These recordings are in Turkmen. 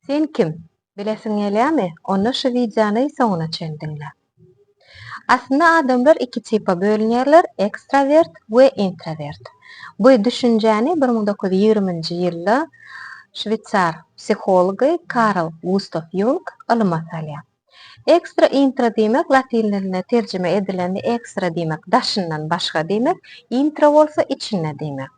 Sen kim? Bilesiň gelýämi? Onda şu wideony soňuna çen diňle. Aslynda adamlar iki tipa bölünýärler, ekstrawert we intrawert. Bu düşünjäni bir müň dokuz ýüz ýigriminji ýylda şweýsar psihology Karl Gustaw Ýung ylyma salýar. Ekstra intra diýmek latyn diline terjime edilende ekstra diýmek daşyndan başga diýmek, intra bolsa içinde diýmek.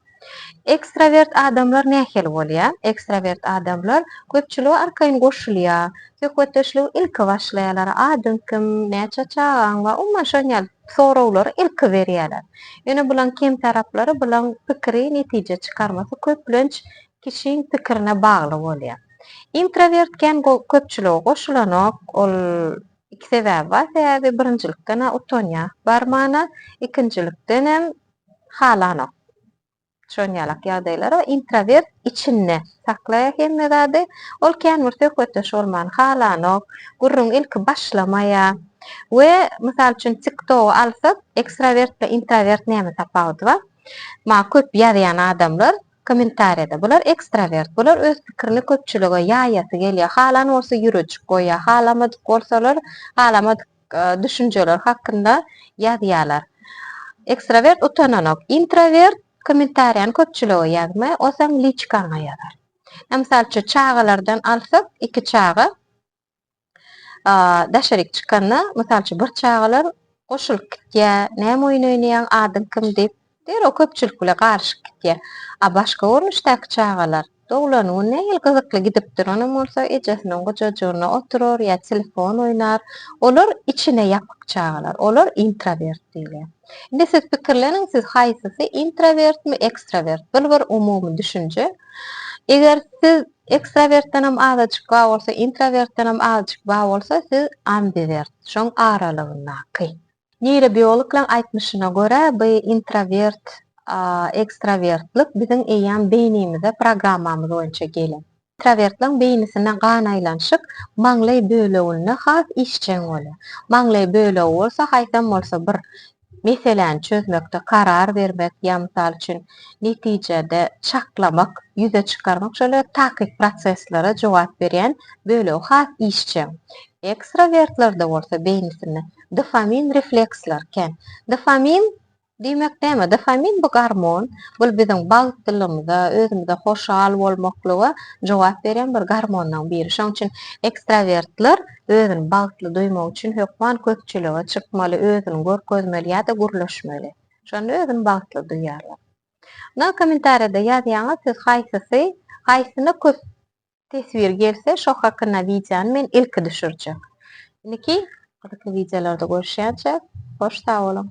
Ekstrawert adamlar nähili bolýar? Ekstrawert adamlar köpçülige arkaýyn goşulýar, söhbetdeşligi ilki başlaýarlar, adyň kim, näçe çagaň bar, umuman şon ýaly soraglary ilki berýärler. Ýöne bulaň kemtaraplary, bulaň pikiri, netije çykarmasy köplenç kişiň pikirine bagly bolýar. Introwert kän köpçülige goşulanok, ol iki sebäbi bar, sebäbi birinjilikden-ä utanýar barmana, ikinjilikdenem halanok. Şon ýalak ýagdaýlara introwert içinde saklaýar hemme zady, ol kän bir söhbetdeş bolmany halanok, gürrüň ilki başlamaýar we mysal üçin tiktogy alsak, ekstrowert we introwert näme tapawudy bar? Maňa köp ýazýan adamlar, Kommentariýada, Bular ekstrawert, bular öz pikirini köpçülige ýaýasy gelýär, halan bolsa ýürejik goýýar, halamadyk bolsalar, halamadyk düşünjeler hakynda ýazýarlar. Ekstrawert utananok. Intrawert kommentariýany köpçülige ýazmaý, o seň liçkaňa ýazar. Ýa mysal üçin çagalardan alsak, iki çaga daşaryk çykanda, mysal üçin, bir çagalar goşulyp gitýär, näme oýun oýnaýaň, adyň kim diýip, derrew köpçülik bilen garyşyp gitýär. A başga görnüşdäki çagalar, doglan gün nähili gyzykly gidip duranam bolsa, ejesiniň gujajygynda oturar ýa telefon oýnar. Olar içine ýapyk çagalar, olar intrawert diýilýär. Indi siz pikirleniň, siz haýsysy, intrawertmi, ekstrawert? Bul bir umumy düşünje. Eger siz Ekstrawertdenem azajyk bar bolsa, intrawertdenem azajyk bar bolsa, siz ambivert, şoň aralygyndaky. Neýrobiologlaň aýtmyşyna görä, bu intrawert, ekstrawertlik biziň eýýäm beýnimize programmamyz boýunça gelen. Intrawertlaň beýnisine gan aýlanyşyk maňlaý böleginde has işjeň bolýar. Maňlaý bölegi bolsa haýsam bolsa bir Meseläni çözmekde karar bermek, ýa mysal üçin, netijede çaklamak, ýüze çykarmak şöyle takyk proseslere jogap berýän bölegi has işjeň. Ekstrawertlerde bolsa beýnisinde dofamin refleksler kän. Dofamin diýmek näme? Dofamin bu gormon. Bul biziň bagtlylygymyza, özümize hoşal bolmaklyga jogap berýän bir gormonlaryň biri. Şonuň üçin ekstrawertler Özüni bagtly duýmak üçin hökman köpçülige çykmaly, özüni görkezmeli ýa-da gürleşmeli. Şonda özüni bagtly duýýarlar. Ynha kommentariýada ýazýaňyz siz haýsysy, haýsyna köp teswir gelse şo hakynda wideony men ilki düşürjek. Indiki gyzykly wideolarda görüşýänçä hoş sag boluň.